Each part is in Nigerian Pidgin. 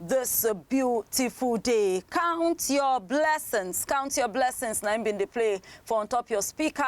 This beautiful day, count your blessings, count your blessings. Na im bin dey play for on top your speaker,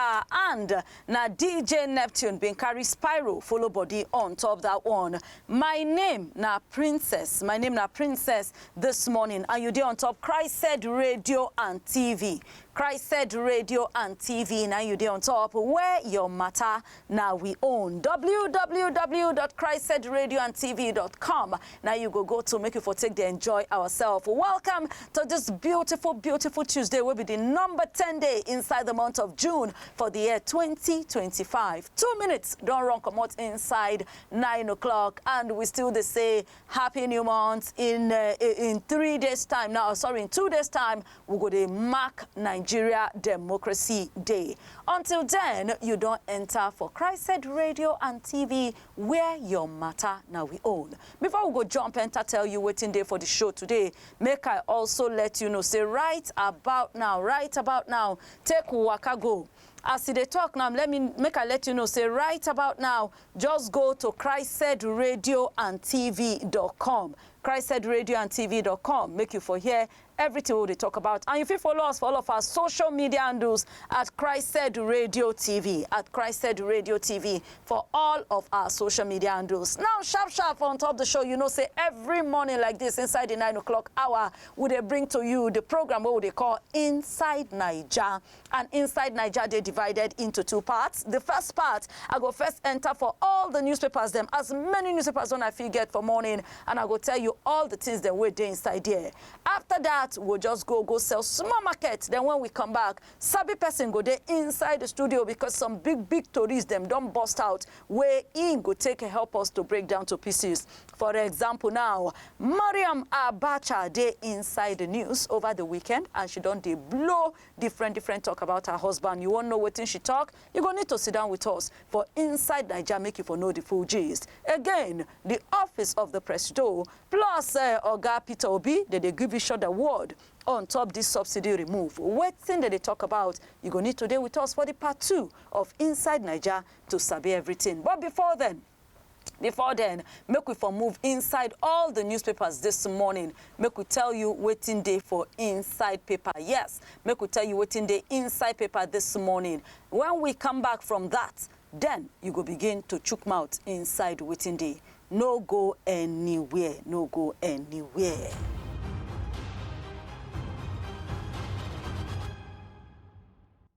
and na DJ Neptune bin carry Spyro follow body on top that one. My name na Princess, my name na Princess this morning, and you dey on top Christed Radio and TV. Christed Radio and TV, na you dey on top where your matter na we own www.christedradioandtv.com na you go go to make you for take dey enjoy ourselves welcome to this beautiful beautiful tuesday wey be the number 10 day inside the month of june for the year 2025 two minutes don run comot inside 9 o'clock and we still dey say happy new month in uh, in three days time now sorry in two days time we go dey mark nigeria democracy day until then you don enter for christed radio and tv where your matter na we own before we go jump enter tell you wetin dey for the show today make i also let you know say right about now right about now take waka go as e dey talk now let me make i let you know say right about now Just go to christsaidradioandtv.com christsaidradioandtv.com make you for hear everything wey we dey talk about and you fit follow us for all of our social media handles at Christ Said Radio TV at Christ Said Radio TV for all of our social media handles. Now sharp sharp on top the show you know say every morning like this inside the nine o'clock hour we dey bring to you the program wey we dey call Inside Naija. and inside naija dey divided into two parts the first part i go first enter for all the newspapers dem as many newspapers when i fit get for morning and i go tell you all the things dem wey dey inside there after that we go just go go sell small market then when we come back sabi person go dey inside the studio because some big big tories dem don burst out wey im go take help us to break down to pieces for example now mariam abacha dey inside the news over the weekend and she don dey blow Different different talk about her husband, you wan know wetin she talk? You go need to sit down with us for inside Naija make you for know the full gist. Again, the office of the presido plus uh, Oga Peter Obi dey dey give each other word on top this subsidy remove. Wetin dem dey talk about? You go need to dey with us for the part two of Inside Naija to sabi everything. But before then, Before then, make we for move inside all the newspapers this morning. Make we tell you waiting day for inside paper. Yes, make we tell you waiting day inside paper this morning. When we come back from that, then you go begin to chook mouth inside waiting day. No go anywhere, no go anywhere.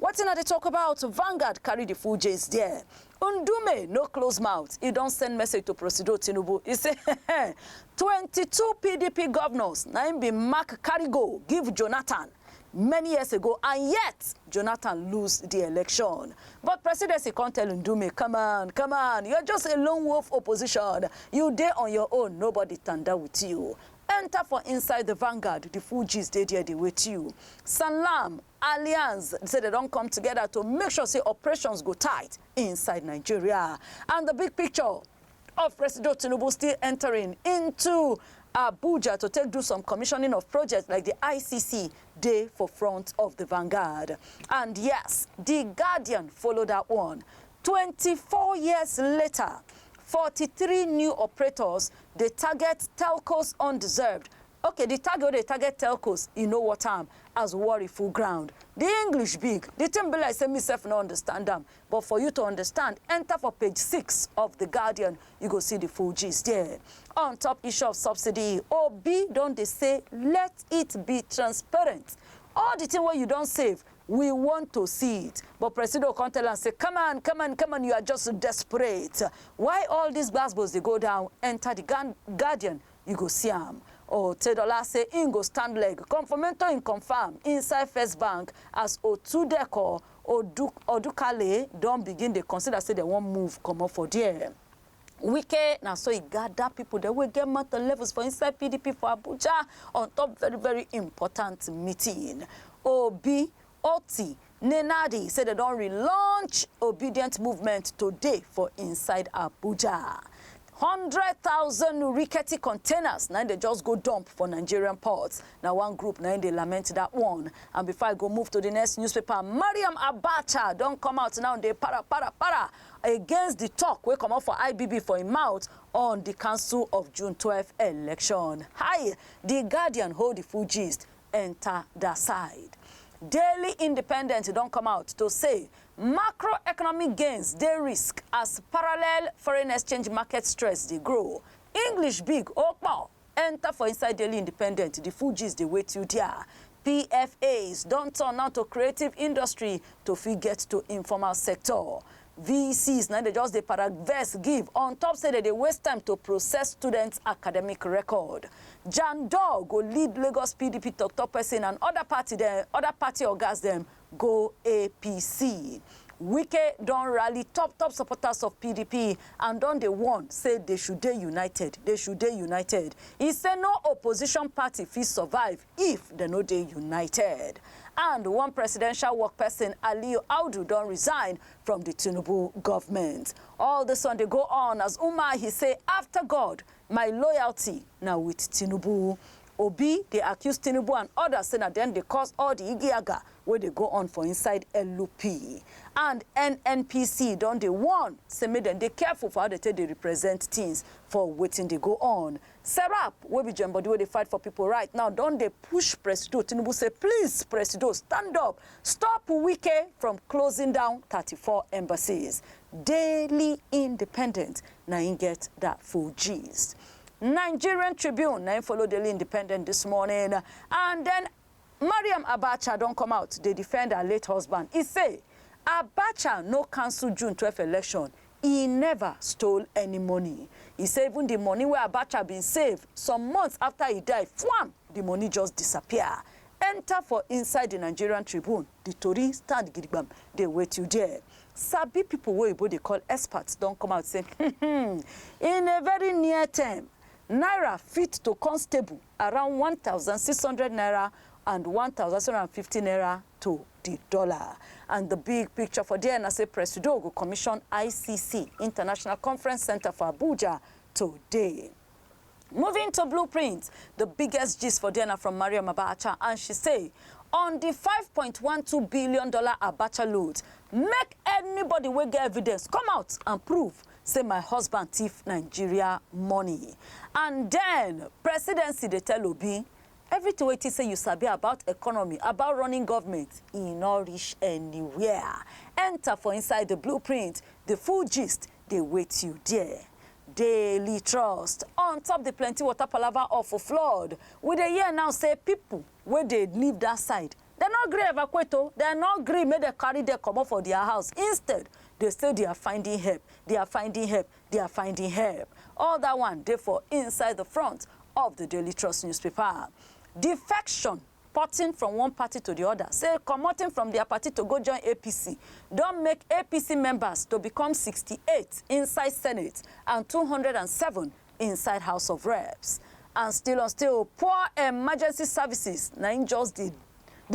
Wetin I dey talk about, Vanguard carry the full gist there. Ndume no close mouth, e don send message to Presido Tinubu, e say twenty two pdp governors na im bin mark carry go give Jonathan many years ago and yet Jonathan lose the election. But Presidency come tell Ndume, come on, come on, you're just a lone wolf opposition, you dey on your own, nobody tanda with you. Enter for inside the Vanguard, the full gist dey there dey wait you. Sanlam Alliance say dem don come together to make sure say operations go tight inside Nigeria and the big picture of Presido Tinubu still entering into Abuja to take do some commissioning of projects like the ICC dey for front of the vanguard. And yes, the Guardian follow that one. 24 years later, 43 new operators dey target telcos undeserved Okay, di target wey dey target telcos, e no worth am as worry full ground. Di English big, di tin be like say me sef no understand am, but for you to understand, enta for page six of The Guardian, you go see di full gist there. On top issue of subsidy, Obi don dey say let it be transparent, all di tin wey you don save, we want to see it, but Presido come tell am say come on, come on, come on, you are just desperate. Why all dis gbas-gbos dey go down? Enta Di Guardian you go see am. Otedola say im go stand leg come for mentor im confam inside First Bank as Otudeko Odukale don begin dey consider say dem wan move comot for there. Wike na so e gada pipo dem wey get mouth and levels for inside pdp for Abuja on top very very important meeting. Obi, Otti Nenadi say dem don relaunch Obidient movement today for inside Abuja. Hundred thousand rickety containers na im dem just go dump for Nigerian ports. Na one group na im dey lament that one. And before I go move to the next newspaper, Mariam Abacha don come out now dey para para para against the talk wey comot for IBB for im mouth on the cancel of June twelve election. Hi! The Guardian hold the full gist enta dia side. Daily Independent don come out to say macroeconomic gains dey risk as parallel foreign exchange market stress dey grow. English big o kpo enta for inside Daily Independent, di full gist dey wait you dia. PFAs don turn now to creative industry to fit get to informal sector. VCs na im dey just dey para vex give on top say dem dey waste time to process students academic record. Jan Doh go lead Lagos PDP tok-tok pesin and oda party dem oda party ogas dem go APC. Wike don rally top-top supporters of PDP and don dey warn say dey should dey united, dey should dey united. E say no opposition party fit survive if dem no dey united. And one presidential work person, Aliyu Audu, don resign from the Tinubu government. All this one dey go on as Umahi say, after God, my loyalty na with Tinubu. Obi dey accuse Tinubu and others say na dem dey cause all the igiaga wey dey go on for inside LP. And NNPC don dey warn say make dem dey careful for how dem take dey represent things for wetin dey go on Serap wey be join body wey dey fight for pipo right now don dey push Presido Tinubu say please Presido stand up stop Wike from closing down thirty four embassies. Daily Independent na im get that full gist. Nigerian Tribune na im follow Daily Independent this morning and then Mariam Abacha don come out dey defend her late husband, e say Abacha no cancel June twelve election, e never stole any money. E say even di money wey Abacha bin save some months afta e die, fwam! di money just disappear enta for inside di Nigerian Tribune, di tori stand gidigbam dey wait you there. Sabi pipo wey oyibo dey call experts don come out say, hmm hmm, in a very near term, naira fit to come stable. around one thousand six hundred naira and one thousand six hundred and fifty naira to di dollar. And di big picture for there na say Presido go commission ICC, International Conference Centre for Abuja today. Moving to Blueprint, di biggest gist for there na from Mariam Abacha and she say on di five point one two billion dollar Abacha loot, make anybody wey get evidence come out and prove say my husband thief Nigeria money and then presidency dey tell Obi everything wey you think say you sabi about economy, about running government, e no reach anywhere. Enter for inside the blueprint, the full gist dey wait you there. Daily Trust, on top the plenty water palava of flood, we dey hear now say people wey dey live that side Dem no gree evacuate o, dem no gree make dem carry dem comot for dia house, instead, dey say they are finding help, they are finding help, they are finding help. All dat one dey for inside the front of the Daily Trust newspaper. Defection, porting from one party to the other, say commoting from dia party to go join APC don make APC members to become sixty eight inside Senate and two hundred and seven inside house of reps and still on still poor emergency services na im just dey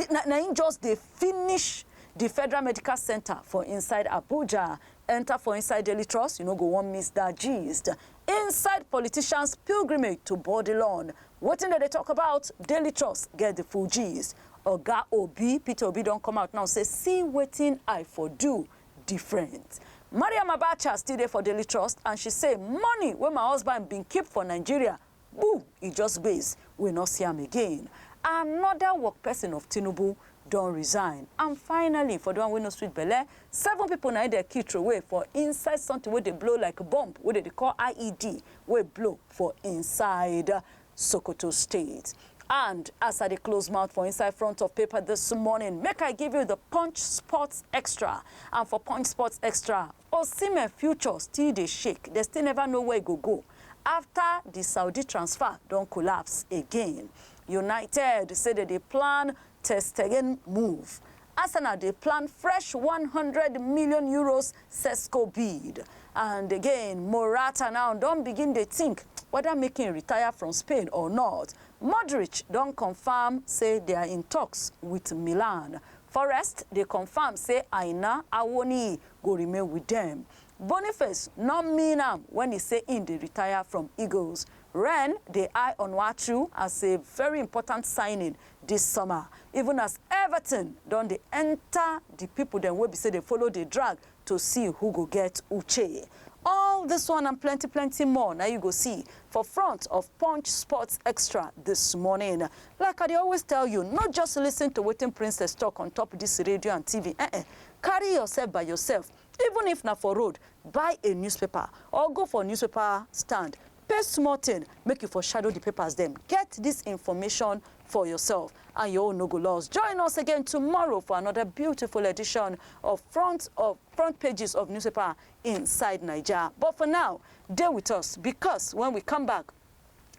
na, na im just dey finish the federal medical center for inside abuja enter for inside daily trust you no go wan miss that gist inside politicians pilgrimage to bodilon wetin dem dey talk about daily trust get the full gist oga obi peter obi don come out now say see wetin i for do different. Mariam Abacha still dey for Daily Trust and she say money wey my husband bin keep for Nigeria, boo, e just gbes, we no see am again. Another work person of Tinubu don resign. And finally, for the one wey no sweet belle, seven people na im dem kill throway for inside something wey dey blow like bomb wey dem dey call IED wey blow for inside Sokoto State. And as I dey close mouth for inside front of paper this morning, make I give you the Punch Sports Extra. And for Punch Sports Extra, Osimhen future still dey shake. They still never know where e go go after the Saudi transfer don collapse again. United say they dey plan Ter Stegen move Arsenal dey plan fresh one hundred million euros Sesko bid and again Morata now don begin dey think whether make im retire from Spain or not. Modric don confirm say they are in talks with Milan. Forest dey confirm say Aina Awoniyi go remain with dem. Boniface no mean am when e say im dey retire from Eagles. Rennes dey eye Onuachu as a very important signing Dis summer, even as everything don dey enter the people dem wey be say dey follow dey drag to see who go get uche. All this one and plenty plenty more na you go see for front of Punch Sports Extra this morning. Like I dey always tell you, no just listen to wetin Princess talk on top this radio and TV, eh-eh, carry yourself by yourself, even if na for road, buy a newspaper or go for newspaper stand Pay small thing make you for shadow the papers dem, get this information for yourself and your own no go lost. Join us again tomorrow for another beautiful edition of Front of Front Pages of Newspaper Inside Naija. But for now, dey with us because when we come back,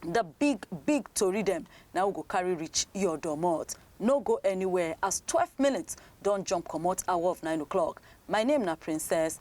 the big big tori dem na we go carry reach your domot. No go anywhere as 12 minutes don jump comot hour of 9 o'clock. My name na Princess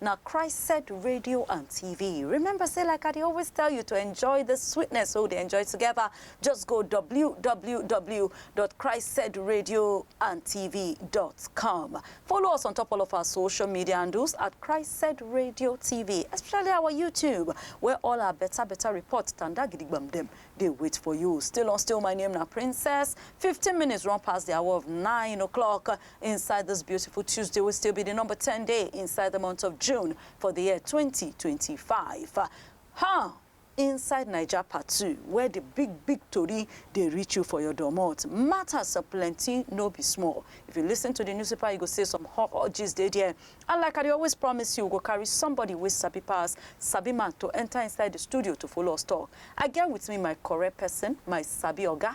na Christ-Set Radio and TV. Remember, say like I dey always tell you to enjoy the sweetness wey we dey enjoy together. Just go www.christsetradioandtv.com. Follow us on top all of our social media handles at Christ-Set Radio TV, especially our YouTube, where all our better better reports tanda gidigbam dem dey wait for you. Still on still, my name na Princess. 15 minutes run past the hour of 9 o'clock. Inside this beautiful Tuesday wey still be the number ten day inside the month of June for the year twenty twenty five. Ha! Inside Naija part two where the big big tori dey reach you for your domot. Matters are plenty no be small. If you listen to the newspaper you go see some hot hot gist dey there and like I dey always promise you we go carry somebody wey sabi pass sabi man to enter inside the studio to follow us talk. I get with me my correct person, my sabi oga,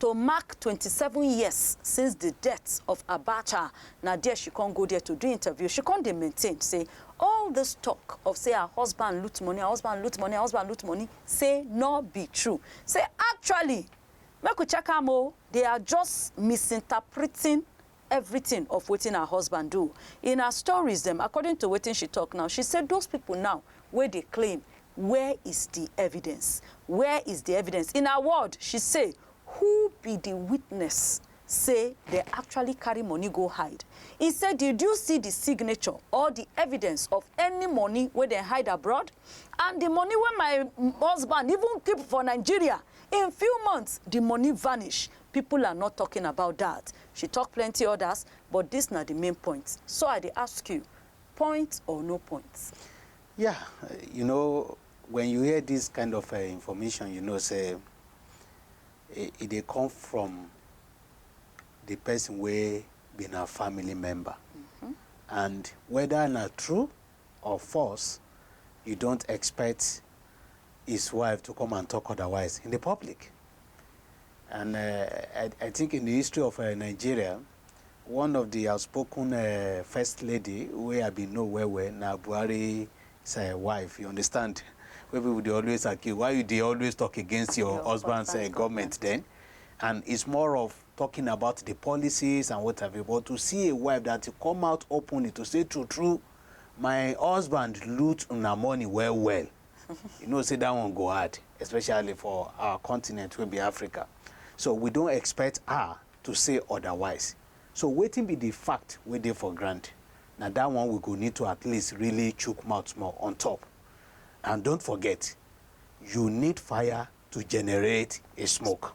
To mark twenty seven years since di death of Abacha, na there she come go there to do interview, she come dey maintain say all dis talk of say her husband loot money, her husband loot money, her husband loot money say nor be true, say actually make we check am o, they are just misinterpreting everything of wetin her husband do in her stories dem according to wetin she talk now she say those people now wey dey claim where is the evidence where is the evidence in her word she say who be the witness say they actually carry money go hide e say did you see the signature or the evidence of any money wey dem hide abroad and the money wey my husband even keep for nigeria in few months the money vanish People are not talking about that, she talk plenty others but this na the main points so I dey ask you, point or no point? Yeah, you know when you hear this kind of uh, information you know say e, e dey come from the person wey be na family member mm -hmm. and whether na true Of force you don't expect his wife to come and talk otherwise in the public and uh, I, I think in the history of uh, Nigeria one of the outspoken uh, first lady wey I bin know well well na Buhari uh, wife you understand wey people dey always accuse why you dey always talk against your, your husband's uh, government then and it's more of talking about di policies and what have you but to see a wife dat to come out openly to say true true my husband loot una money well well you know say dat one go hard especially for our continent wey be Africa so we don expect her to say otherwise so wetin be di fact wey dey for ground na dat one we go need to at least really chook mouth small on top and don't forget you need fire to generate a smoke.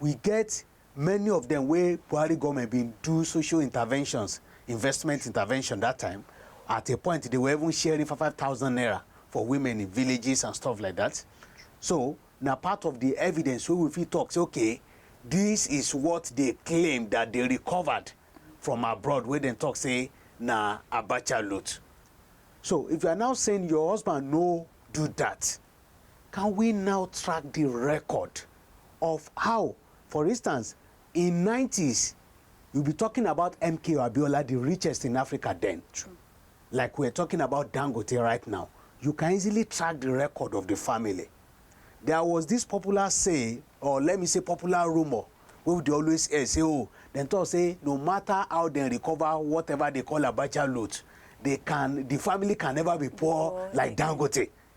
we get many of dem wey Buhari government bin do social interventions, investment intervention that time. At a point, they were even sharing five five thousand naira for women in villages and stuff like that. So na part of the evidence wey we fit talk say okay, this is what they claim that they recovered from abroad wey dem talk say na Abacha loot. So if you are now saying your husband no do that, Can we now track di record of how, for instance, in nineties you be talking about MKO Abiola, di richest in Africa den, like we are talking about Dangote right now, you can easily track di record of di family. There was dis popular say or let me say popular rumour wey we dey always hear say oh, dem talk say no matter how dem recover whatever dey call Abacha loot, dey can di family can never be poor like Dangote.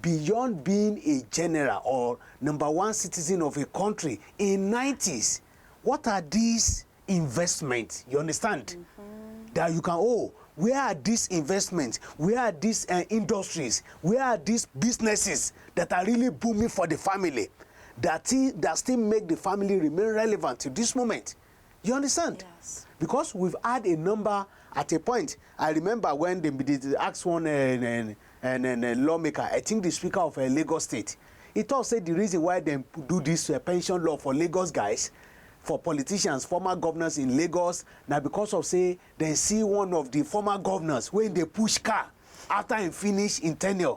Beyond being a general or number one citizen of a country in nineties, what are dis investment, you understand, dat you can oh, where are dis investment, where are dis industries, where are dis businesses dat are really booming for di family, dat still make di family remain relevant till dis moment. You understand? Yes. Because we've had a number at a point. I remember when they, they asked one uh, uh, uh, lawmaker, I think the speaker of uh, Lagos State, he talk say the reason why they do this uh, pension law for Lagos guys for politicians former governors in lagos na because of say dem see one of the former governors wey dey push car after im finish im tenure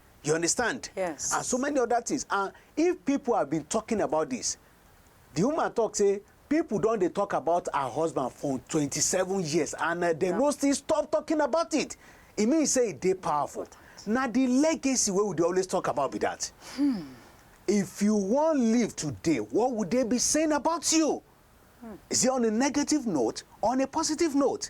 You understand? Yes. And so many other things. And if people have been talking about this, the woman talk say people don dey talk about her husband for twenty-seven years and uh, dem no still stop talking about it. E mean say e dey powerful. Na the legacy wey we dey always talk about be that. If you wan live today, what would they be saying about you? Is it on a negative note or on a positive note?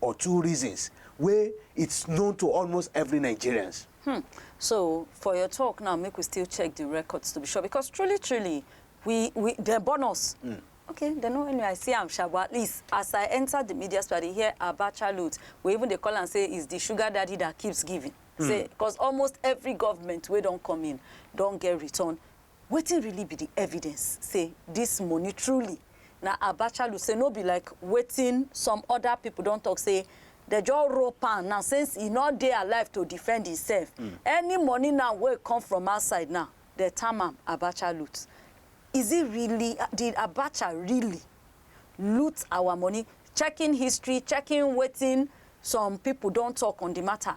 or two reasons wey it's known to almost every Nigerians. Hmm. So for your talk now, make we still check the records to be sure because truly, truly, we we they born us. Mm. Okay, they know anyway. I see I'm sure, but at least as I enter the media store, they hear about childhood. We even they call and say it's the sugar daddy that keeps giving. Mm. Say because almost every government we don't come in, don't get return Wetin really be di evidence say dis money truly na Abachalu say no be like wetin some oda pipo don tok say dem just rope am now since e no dey alive to defend imsef. Any money now wey come from outside now dem term am Abacha loot. Is it really, did Abacha really loot our money? Checking history, checking wetin some pipo don tok on di mata,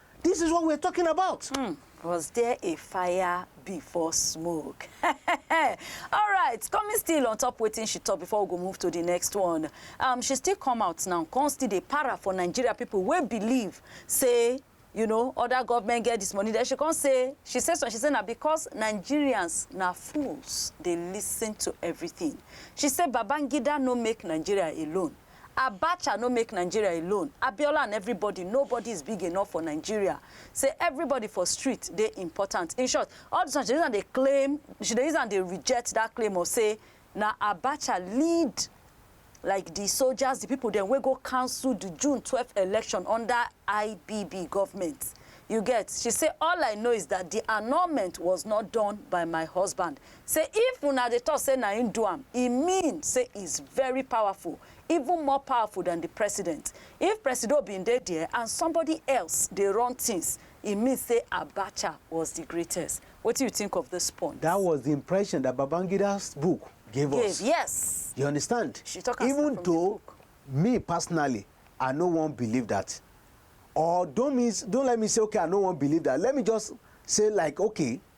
This is what we're talking about. Mm. Was there a fire before smoke? All right, coming still on top waiting she talk before we go move to the next one. Um, she still come out now, come still dey para for Nigeria people wey believe say you know other government get this money then she come say she say so she say na because nigerians na fools dey listen to everything she say babangida no make nigeria alone Abacha no make Nigeria alone, Abiola and everybody nobody is big enough for Nigeria say everybody for street dey important. In short, all this one she dey use am dey claim, she dey use am dey reject that claim of say na Abacha lead like the soldiers, the people dem wey go cancel the June twelve election under IBB government. You get? She say all I know is that the annulment was not done by my husband, Say if una dey talk say na him do am, e mean say he's very powerful, even more powerful than the president. If Presido been dey there and somebody else dey run things, e mean say Abacha was the greatest. Wetin you think of this point? That was the impression that Babangida's book gave us. Gave, yes. You understand? She talk am straight Even from the though book. me personally, I no wan believe that. Or don't mean, don't let me say, okay, I no wan believe that. Let me just say like, okay,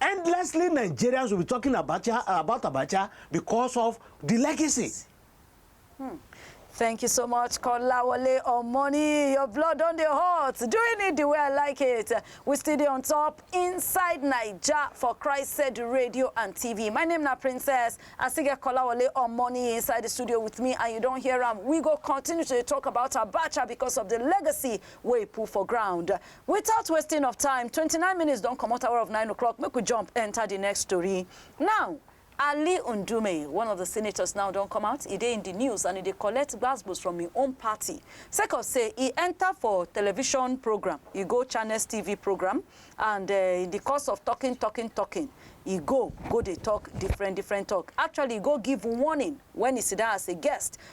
Endlessly Nigerians will be talking Abacha, about Abacha because of the legacy. Hmm. Thank you so much, Kolawole Omoni. Your blood on the heart. Doing it the way I like it. We still there on top inside Niger for Christ said radio and TV. My name is Princess. I still get Kolawole Omoni inside the studio with me and you don't hear him. We go continue to talk about Abacha because of the legacy we put for ground. Without wasting of time, twenty nine minutes don comot hour of nine o'clock, make we jump enter the next story. Now, Ali Ndume, one of the senators now don come out, e dey in the news and e dey collect gbasgbos from im own party sake of say e enter for television program, e go Channels TV program and eh, in the course of talking, talking, talking, e go go dey talk different different talk. Actually, e go give warning when e sit down as a guest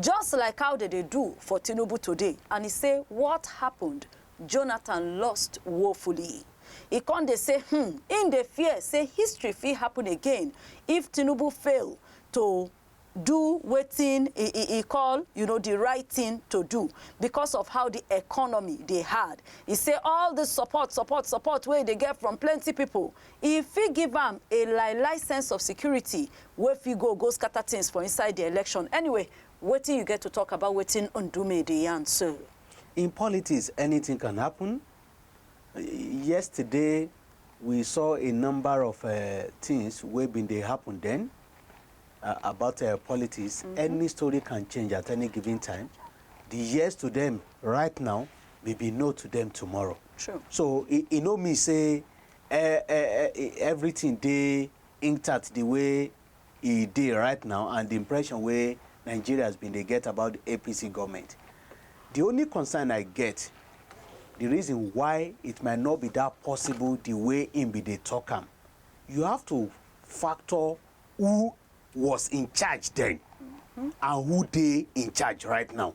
just like how dem dey do for Tinubu today and e say what happened, Jonathan lost woefully. E come dey say hmm im dey fear say history fit happen again if Tinubu fail to do wetin e e e call you know di right tin to do because of how di economy dey hard. E say all dis support support support wey e dey get from plenty pipo E fit give am a lie lie sense of security wey fit go go scatter things for inside the election. Anyway, wetin you get to talk about wetin Ndume dey yarn so? In politics, anything can happen. Yesterday, we saw a number of uh, things wey been dey happen then uh, about uh, politics. Mm -hmm. Any story can change at any given time. The yes to them right now may be no to them tomorrow. True. So, e, e no mean say Eh eh eh eh everything dey inktat di way e dey right now and di impression wey Nigerians bin dey get about di APC goment. Di only concern I get di reason why it might not be dat possible di way im bin dey tok am, you have to factor who was in charge den and who dey in charge right now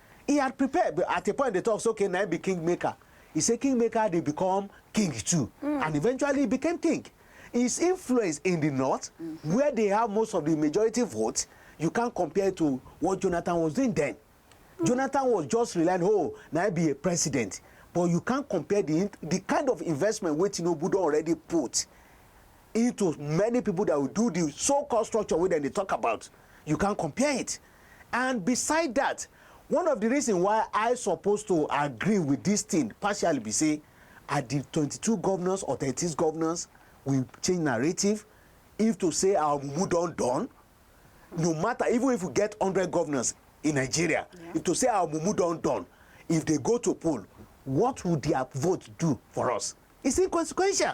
He had prepared but at a point dey talk say okay na him be king maker. He say king maker dey become king too mm. and eventually he became king. His influence in the north mm. where they have most of the majority vote you can't compare to what Jonathan was doing then. Mm. Jonathan was just relying oh na him be a president but you can't compare the the kind of investment wey Tinubu don already put into many people that will do the so-called structure wey dem dey talk about you can't compare it. And beside dat, one of di reason why I suppose to agree wit dis tin partially be say I di twenty two govnors or thirty six govnors we change narrative if to say our mumu don don no matter even if we get hundred govnors in Nigeria yeah. if to say our mumu don don if dey go to poll what would their vote do for us? It's inconsequential.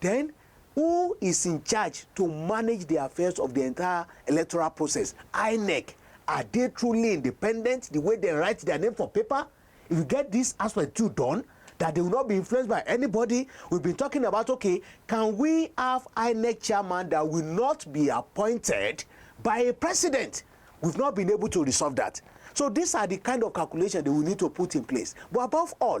Den, who is in charge to manage di affairs of di entire electoral process, Inec? Are dey truly independent di way dem write dia name for paper? If you get dis aspect too done, dat dey will not be influenced by anybody, we been talking about okay, can we have Inec chairman dat will not be appointed by a president? We've not been able to resolve dat. So dis are di kind of calculation dey will need to put in place. But above all,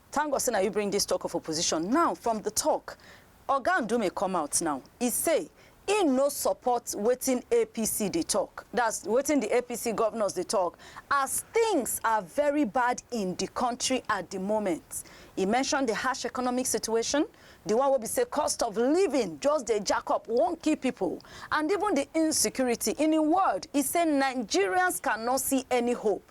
Thank God say na you bring this talk of opposition now from the talk Oga Ndume come out now he say he no support wetin APC dey talk that's wetin the APC governors dey talk as things are very bad in the country at the moment he mention the harsh economic situation the one wey be say cost of living just dey jack up wan kill people and even the insecurity in a word he say Nigerians cannot see any hope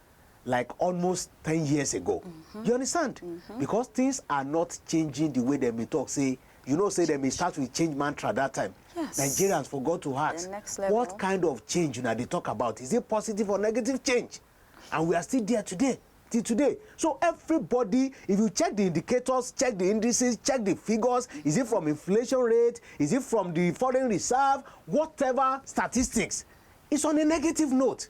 like almost ten years ago you understand because things are not changing the way dem bin talk say you know say dem bin start with change mantra that time Yes. nigerians forgot to ask The next level. what kind of change una dey talk about is it positive or negative change and we are still there today till today so everybody if you check the indicators check the indices check the figures is it from inflation rate is it from the foreign reserve whatever statistics it's on a negative note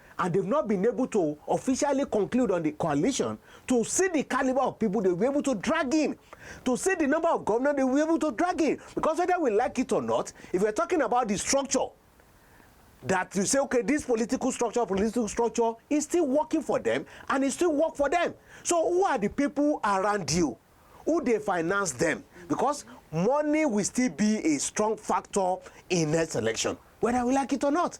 and dem no been able to officially conclude on di coalition to see di calibre of pipo dem go be able to drag in, to see di number of govnor dem go be able to drag in becos weda we like it or not, if we're talking about di structure dat you say okay dis political structure, political structure is still working for dem and e still work for dem. So who are di pipo around you? Who dey finance dem? Becos money will still be a strong factor in next election weda we like it or not.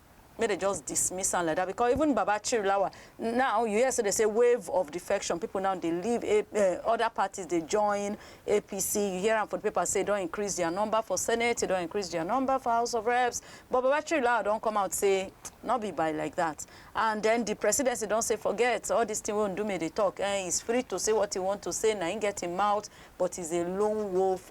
make dem just dismiss am like that because even Baba Chirilawa now you hear say they say wave of defection people now dey leave A uh, other parties dey join APC you hear am for the paper say don increase their number for Senate they don increase their number for House of Reps but Baba Chirilawa don come out say no be by like that and then the presidency don say forget all this thing wey Ndume dey talk eh, he's free to say what he want to say na him get him mouth but he's a lone wolf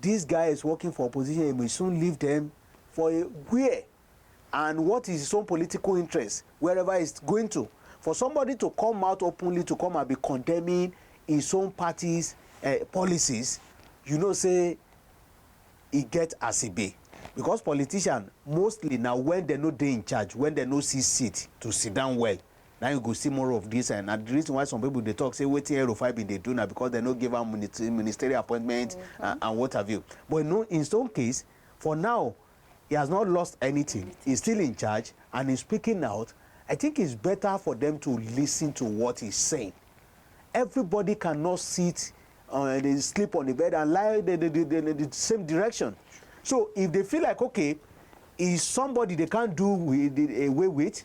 These guys working for opposition he will soon leave them for a where and what is his own political interest wherever he's going to for somebody to come out openly to come and be condemning his own party's uh, policies you know say e get as e be because politician mostly na when dem no dey in charge when dem no see seat to sit down well Na you go see more of this eh. Na the reason why some people dey talk say wetin El-Rufai been dey do na because dem no give am ministerial appointment and what have you. But you know in his own case, for now he has not lost anything, he is still in charge and he is speaking out, I think it's better for them to listen to what he is saying. Everybody cannot sit uh, they sleep on the bed and lie the, the, the, the, the same direction. So if they feel like okay, is somebody they can't do with, away with,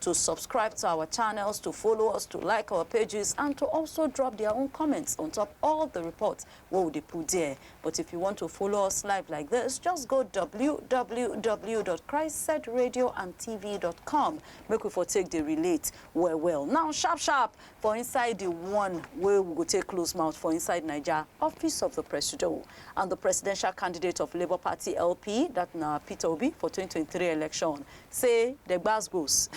to subscribe to our channels, to follow us, to like our pages, and to also drop their own comments on top all the reports what we dey put there. But if you want to follow us live like this, just go www.christsedradiooandtv.com. Make we for take the relate well well. Now sharp sharp for inside the one where we go take close mouth for inside Niger office of the presido and the presidential candidate of Labour Party LP that na Peter Obi for 2023 election say the gbasgbos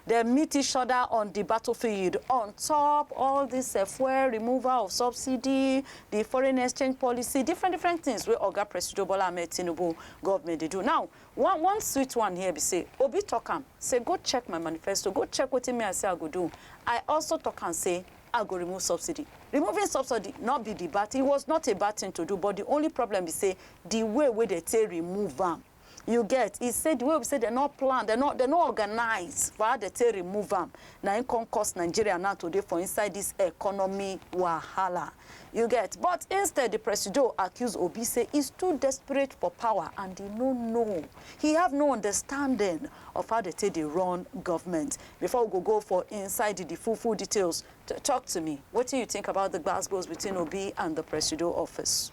dem meet each other on the battlefield on top all this uh, fuel removal of subsidy, the foreign exchange policy, different different things where Oga Presido Bola Ahmed Tinubu government they do. Now, one one sweet one here be say Obi talk am say go check my manifesto, go check what me I say I go do. I also talk and say I go remove subsidy. Removing subsidy not be the bad thing. It was not a bad thing to do, but the only problem is say the way where they take remove them. You get? E say the way wey be say dem no plan, dem no dem no organize for how dem take remove am, na im come cause Nigeria now to dey for inside this economy wahala. You get? But instead, the Presido accuse Obi say he's too desperate for power and he no know, he have no understanding of how dem take dey run government. Before we go go for inside the full full details, talk to me, wetin you think about the gbas gbos between Obi and the Presido office?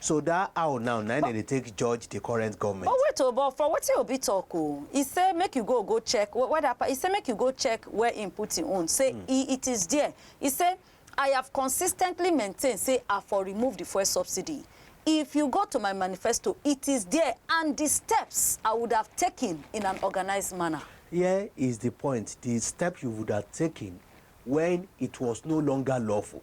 So dat how now na im dem dey take judge di current goment? But wait o, but for wetin Obi tok o, e say make you go go check where dat part, e say make you go check where im put im own, say e it is there, e say I have consistently maintained say I for remove di fuel subsidy, if you go to my manifesto it is there and di steps I would have taken in an organised manner. Here is di point, di step you would have taken wen it was no longer lawful.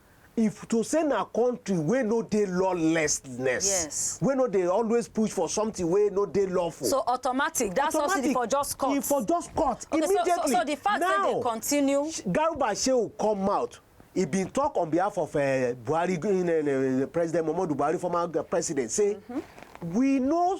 If to say na country wey no dey lawlessness, yes. wey no dey always push for something wey no dey lawful. So automatic, that automatic, subsidy for just cut. E for just cut okay, immediately. So, so, so the fact now, that they continue. Garuba Shehu come out. He been talk on behalf of uh, Buhari, uh, President Muhammadu Buhari, former president, say mm -hmm. we no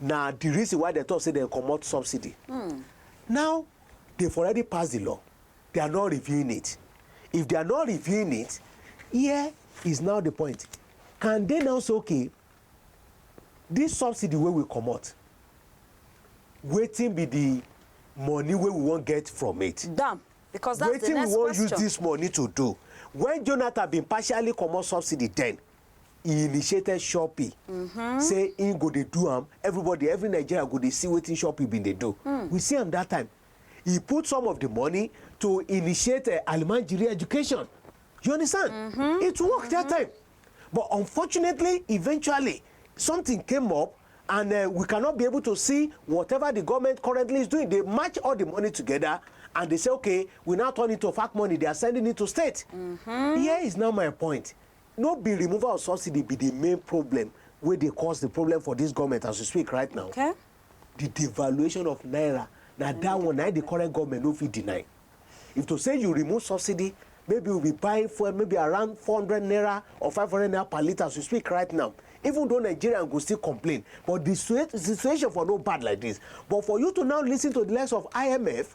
na the reason why dem talk say dem comot subsidy mm. now they've already passed the law they are not reviewing it if they are not reviewing it here is now the point can they now say okay this subsidy wey we comot wetin be the money wey we wan get from it. dam because that's the next question. wetin we wan use this money to do when jonathan bin partially comot subsidy then e initiated Shopee mm-hmm. say he go dey do am everybody every Nigeria go dey see wetin Shopee bin dey do mm. we see am that time he put some of the money to initiate uh, Almanjiri education you understand mm-hmm. it worked mm-hmm. that time but unfortunately eventually something came up and uh, we cannot be able to see whatever the government currently is doing they match all the money together and they say okay we now turn it to fact money they are sending it to state mm-hmm. here is now my point no be removal of subsidy be the main problem wey dey cause the problem for this government as we speak right now okay. the devaluation of naira na mm. that one na the current government no fit deny if to say you remove subsidy maybe we be buying fuel maybe around four hundred naira or five hundred naira per litre as we speak right now even though nigerian go still complain but the situation for no bad like this but for you to now listen to the likes of imf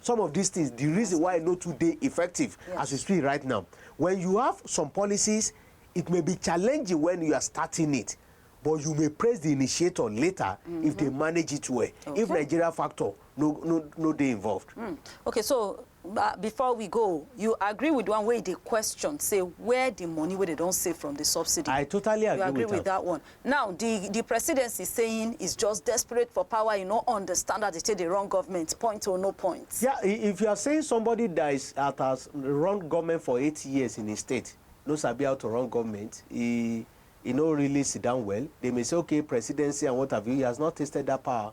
some of dis tins, di reason why e no too dey effective as we speak right now, wen you have some policies, it may be challenging wen you are starting it but you may praise di initiator later if dem manage it well, if Nigeria factor no no no dey involved. Hmm, okay so ba before we go, you agree wit di one wey e dey question say where di money wey dem don save from di subsidy? I totally agree wit am. You agree wit dat one? Now di di presidency saying is just desperate for power e no understand as dey take dey run government point o no point. Yeah i if you are saying somebody that is at has run government for eight years in a state no sabi how to run government e e no really sit down well they may say okay presidency and what have you he has not tasted that power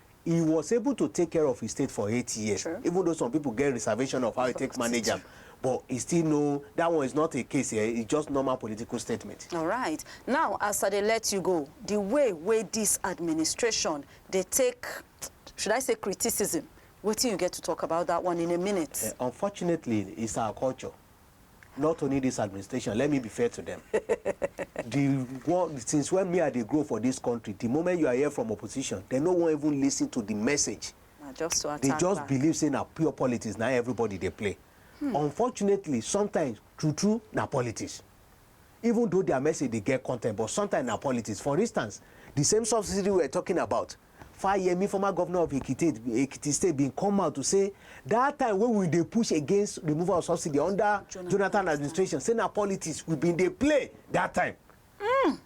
He was able to take care of his state for eight years True. even though some people get reservation of how he take manage am but he still no that one is not a case here it's just normal political statement. All right. Now, as I dey let you go, the way wey this administration dey take, should I say criticism, wetin you get to talk about that one in a minute? Uh, unfortunately, it's our culture. not only this administration let me be fair to them the one since when me i dey grow for this country the moment you are here from opposition they no wan even listen to the message na just to attack they just back. believe say na pure politics na everybody dey play hmm. unfortunately sometimes true true na politics even though their message dey get content but sometimes na politics. For instance, the same subsidy we were talking about, Fayemi, former governor of Ekiti, Ekiti State bin come out to say that time wey we dey push against removal of subsidy under Jonathan, Jonathan administration, say na politics we bin dey play that time. Mm.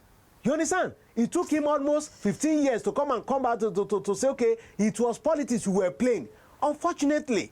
You understand? It took him almost 15 years to come and come back to, to, to, to say, okay, it was politics we were playing. Unfortunately,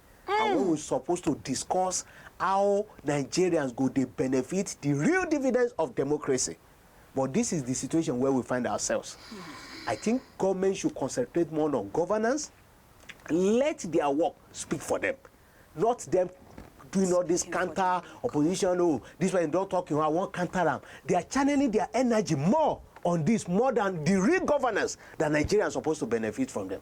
and wey we suppose to discuss how Nigerians go dey benefit the real dividends of democracy but this is the situation where we find ourselves. I think government should concentrate more on governance, let their work speak for them, not them doing all this counter opposition, oh, this one don't talk, you know, I want counter them. They are channeling their energy more on this, more than the real governance that Nigerians are supposed to benefit from them.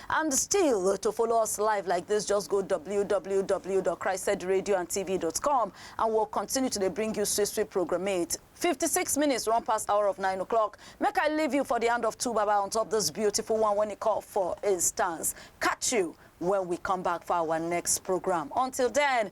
And still, to follow us live like this, just go www.christedradioandtv.com and we'll continue to dey bring you sweet, sweet programmate. 56 minutes run past hour of 9 o'clock. Make I leave you for the hand of two baba on top this beautiful one when it call for instance. Catch you when we come back for our next program. Until then,